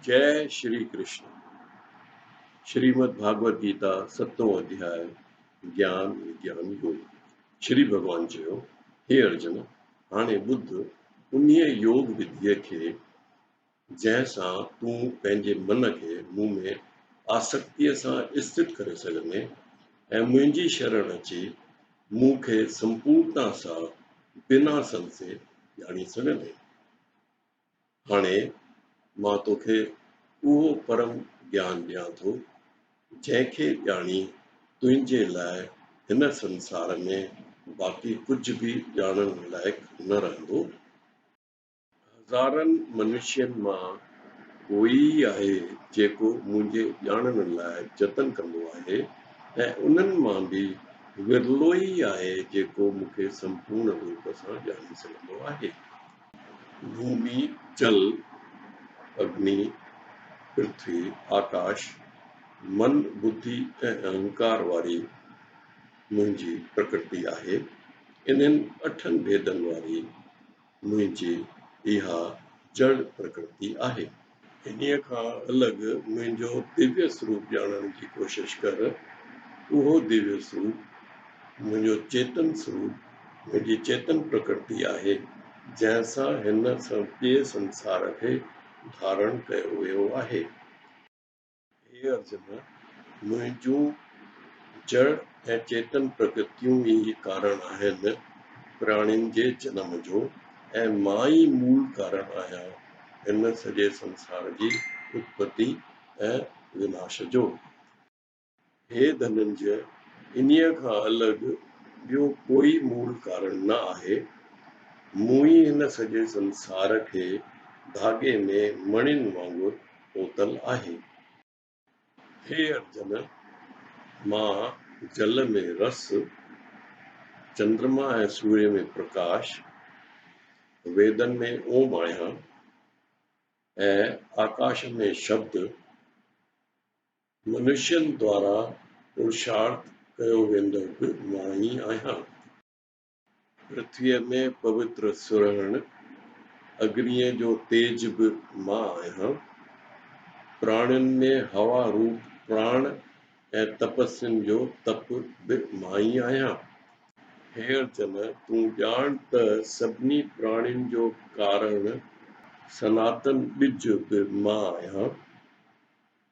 جئه شري ڪرشن. شريمد ڀاڳوت گيتا ستون اڌياء گيان وگيان يوگ شري ڀڳوان چيو هي ارجن هاڻي ٻڌ انهيء يوگ وڌيء کي جنهن سان تون پنهنجي من کي مون ۾ آسڪتيء سان اسٿت ڪري سگهندين ۽ منهنجي شرڻ اچي مون کي سمپورتا سان بنا سنسي ڄاڻي سگهندين. هاڻي مان توکي اهو پرم گيان ڏيان ٿو، جنهن کي ڄاڻي تنهنجي لاء هن سنسار ۾ باقي ڪجهه به ڄاڻڻ لائق نه رهندو. هزارن منشين مان ڪوئي ئي آهي جيڪو منهنجي ڄاڻڻ لاء جتن ڪندو آهي ۽ انهن مان به ورلو ئي آهي جيڪو مون کي سمپورڻ روپ سان ڄاڻي سگهندو آهي. ڀومي جل اگني پرٿوي آڪاش من ٻڌي ۽ اهنڪار واري منهنجي پرڪرتي آهي. انهن اٺن ڀيدن واري منهنجي اها جڙ پرڪرتي آهي. انهيء کان الڳ منهنجو ديويه سروپ ڄاڻڻ جي ڪوشش ڪر. اهو ديويه سروپ، منهنجو چيتن سروپ، منهنجي چيتن پرڪرتي آهي، جنهن سان هن سڄي سنسار کي ڌارڻ ڪيو ويو آهي. هي ارجن! منهنجون جڙ ۽ چيتن پرڪتيون ئي ڪارڻ آهن پراڻين جي جنم جو ۽ مان ئي مول ڪارڻ آهيان هن سڄي سنسار جي اتپتي ۽ وناش جو. هي ڌننجئه، انهيء کان الڳ ٻيو ڪوئي مول ڪارڻ نه آهي. مون ئي هن سڄي سنسار کي ڌاڳي ۾ مڻين وانگر پوتل آهي. هي ارجن، مان جل ۾ رس، چندرما ۽ سوري ۾ پرڪاش، ويدن ۾ اوم آهيان ۽ آڪاش ۾ شبد، منشين دوارا پرشارٿ ڪيو ويندڙ به ماڻهي آهيان. پرٿويء ۾ پوتر سرهڻ اگنيء جو تيج به مان آهيان. پراڻين ۾ هوا روپ پراڻ ۽ تپسين جو تپ به ماڻهي آهيان. هير جن! تون ڄاڻ ته سڀني پراڻين جو ڪارڻ سناتن ٻج به مان آهيان.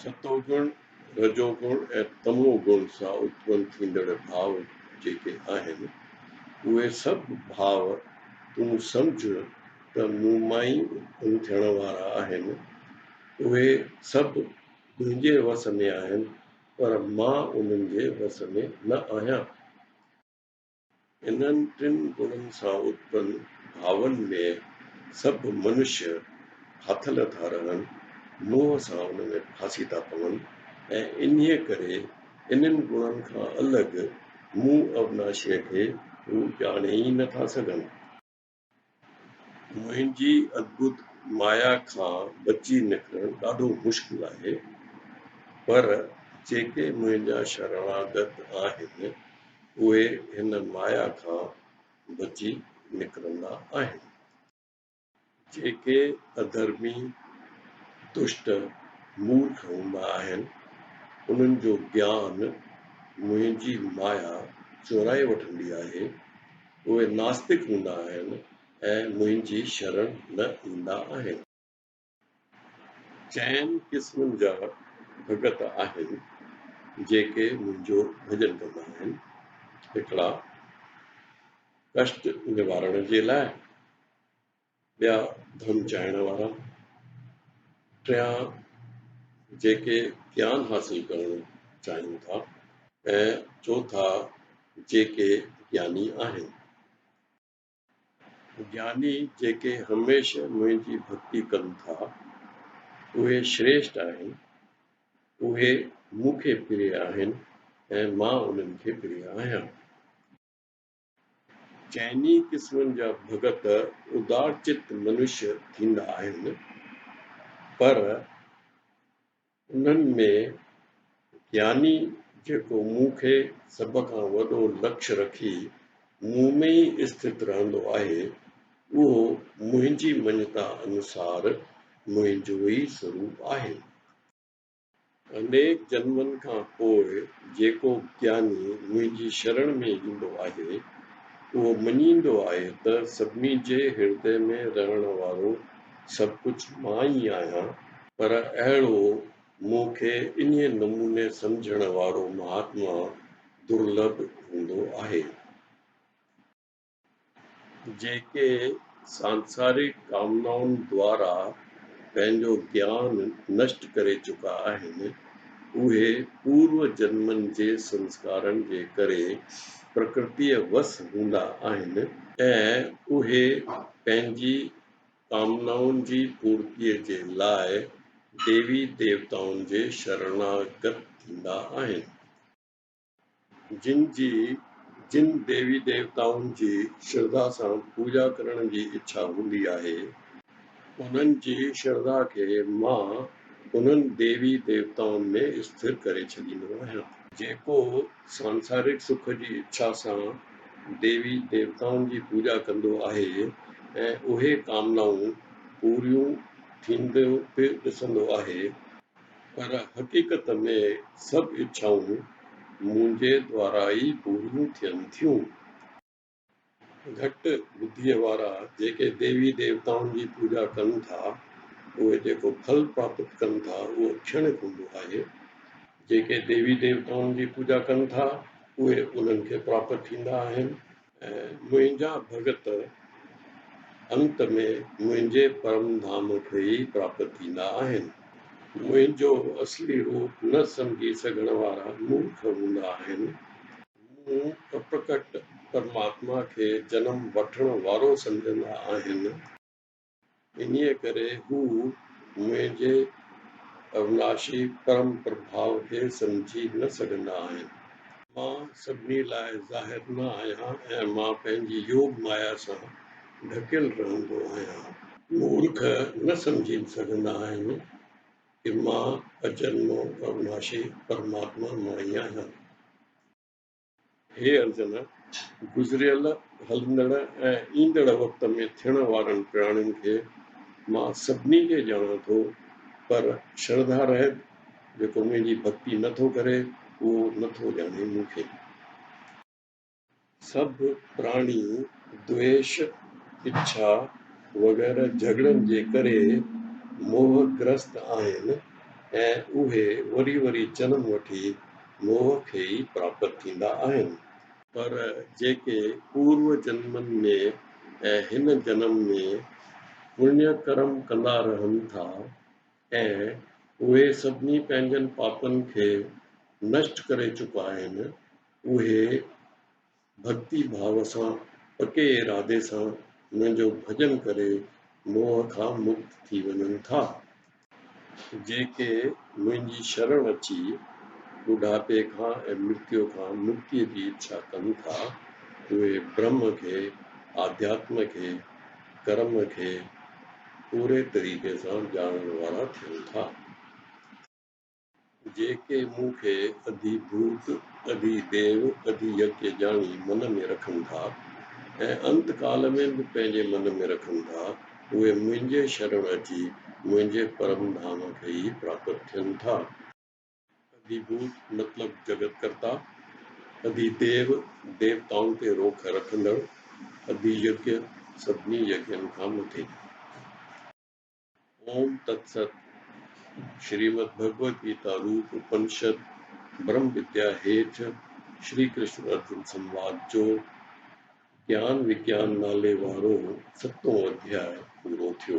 ستون گڻ، رجو گڻ ۽ تمو گڻ سان اتپن ٿيندڙ ڀاء جيڪي آهن، اهي سڀ ڀاء تون سمجهه ته مون مان ئي اتپن ٿيڻ وارا آهن. اهي سڀ تنهنجي وس ۾ آهن، پر مان انهن جي وس ۾ نه آهيان. انهن ٽن گڻن سان اتپن ڀاون ۾ سڀ منشي هٿ نه ٿا رهن، موهه سان ان ۾ ڦاسي ٿا پون ۽ انهيء ڪري انهن گڻن کان الڳ مون اوناشيء کي هو ڄاڻي ئي نه ٿا سگهن. منهنجي ادڀت مايا کان بچي نڪرڻ ڏاڍو مشڪل آهي، پر جيڪي منهنجا شرڻاگت آهن، اهي هن مايا کان بچي نڪرندا آهن. جيڪي اڌرمي، دشٽ، مورک هوندا آهن، انهن جو گيان منهنجي مايا چورائي وٺندي آهي، اهي ناستڪ هوندا آهن ۽ منهنجي شرڻ نه ايندا آهن. چئن قسمن جا ڀڳت آهن، جيڪي منهنجو ڀڄن ڪندا آهن، هڪڙا ڪشٽ نوارڻ جي لاء، ٻيا ڌن چاهڻ وارا، ٽيان جيڪي گيان حاصل ڪرڻ چاهيون ٿا ۽ چوٿا جيڪي گياني آهن. گياني جيڪي هميشه منهنجي ڀڳتي ڪن ٿا، اهي شريشٽ آهن، اهي مون کي پريا آهن ۽ مان انهن کي پريا آهيان. چئني قسمن جا ڀڳت ادارچت منش ٿيندا آهن، پر انهن ۾ گياني جيڪو مون کي سڀ کان وڏو لڪش رکي مون ۾ ئي اسٿت رهندو آهي، اهو منهنجي مڃتا انوسار منهنجو ئي سروپ آهي. انيڪ جنمن کان پوء جيڪو گياني منهنجي شرڻ ۾ ايندو آهي، اهو مڃيندو آهي ته سڀني جي هردي ۾ رهڻ وارو سڀ ڪجهه مان ئي آهيان، پر اهڙو مون کي انهيء نموني سمجهڻ وارو مهاتما درلڀ هوندو آهي. جيڪي سانسارڪ ڪامنائن دوارا پنهنجو گيان نشٽ ڪري چڪا آهن، اهي پورو جنمن جي سنسڪارن جي ڪري پرڪرتيء وس هوندا آهن، ۽ اهي پنهنجي ڪامنائن جي پورتيء جي لاء ديوي ديوتائن جي شرڻاگت ٿيندا آهن. جن جي جن ديوي ديوتائن جي شرڌا سان پوڄا ڪرڻ جي اڇا هوندي آهي، انهن جي شرڌا کي مان انهن ديوي ديوتائن ۾ اسٿر ڪري ڇڏيندو آهيان. جيڪو سانسارڪ سک جي اڇا سان ديوي ديوتائن جي پوڄا ڪندو آهي ۽ اهي ڪامنائون پوريون ٿينديون به ڏسندو آهي، پر حقيقت ۾ سڀ اڇائون منهنجي دوارا ئي پوريون ٿين ٿيون. گهٽ ٻڌيء وارا جيڪي ديوي ديوتائن جي پوڄا ڪن ٿا، اهي جيڪو ڦل پراپت ڪن ٿا، اهو ڪھڻڪ هوندو آهي. جيڪي ديوي ديوتائن جي پوڄا ڪن ٿا، اهي انهن کي پراپت ٿيندا آهن. منهنجا ڀڳت انت ۾ منهنجي پرم ڌام کي ئي پراپت ٿيندا آهن. منهنجو اصلي روپ نه سمجهي سگهڻ وارا مورک هوندا آهن. مون اپرڪٽ پرماتما کي جنم وٺڻ وارو سمجهندا آهن. انهيء ڪري هو منهنجي اوناشي پرم پرڀاء کي سمجهي نه سگهندا آهن. مان سڀني لاء ظاهر نه آهيان ۽ مان پنهنجي يوگ مايا سان ڍڪيل رهندو آهيان. مورک نه سمجهي سگهندا آهن ته مان اجنمو اوناشي پرماتما ماڻي آهيان. هي عرضن گذريل، هلندڙ ۽ ايندڙ وقت ۾ ٿيڻ وارن پراڻين کي مان سڀني کي ڄاڻان ٿو، پر شرڌا رهت جيڪو منهنجي ڀڳتي نه ٿو ڪري، اهو نه ٿو ڄاڻي مون کي. سڀ پراڻي دويش، اڇا وغيره جهڳڙن جي ڪري موهه گرست آهن ۽ اهي وري وري جنم وٺي موهه کي ئي پراپت ٿيندا آهن. پر جيڪي پورو جنمن ۾ ۽ هن جنم ۾ پڃ ڪرم ڪندا رهن ٿا ۽ اهي سڀني پنهنجن پاپن کي نشٽ ڪري چڪا آهن اهي ڀڳتي ڀاء سان پڪي ارادي سان هن جو ڀڄن ڪري موهه کان مڪت ٿي وڃن ٿا. جيڪي منهنجي شرڻ اچي ٻڍاپي کان ۽ مرتيو کان مڪتيء جي اڇا ڪن ٿا، اهي برهم کي، آڌياتم کي، ڪرم کي پوري طريقي سان ڄاڻڻ وارا ٿين ٿا. جيڪي مون کي اڌي ڀوت، اڌي ديو، اڌي يڪي ڄاڻي من ۾ رکن ٿا ۽ انت ڪال ۾ به پنهنجي من ۾ رکن ٿا، اهي منهنجي شرڻ اچي منهنجي پرم ڌام کي ئي پراپت ٿين ٿا. اڌي ڀوت مطلب جڳت ڪرتا، اڌي ديو ديوتائن تي روک رکندڙ، اڌي يڪي سڀني يڪين کان مٿي. اوم تت ست، شريمد ڀڳوت گيتا روپ اپنشد برهم وديا هيٺ شري ڪرشن ارجن سنواد جو گيان وگيان نالي وارو ستون اڌياء پورو ٿيو.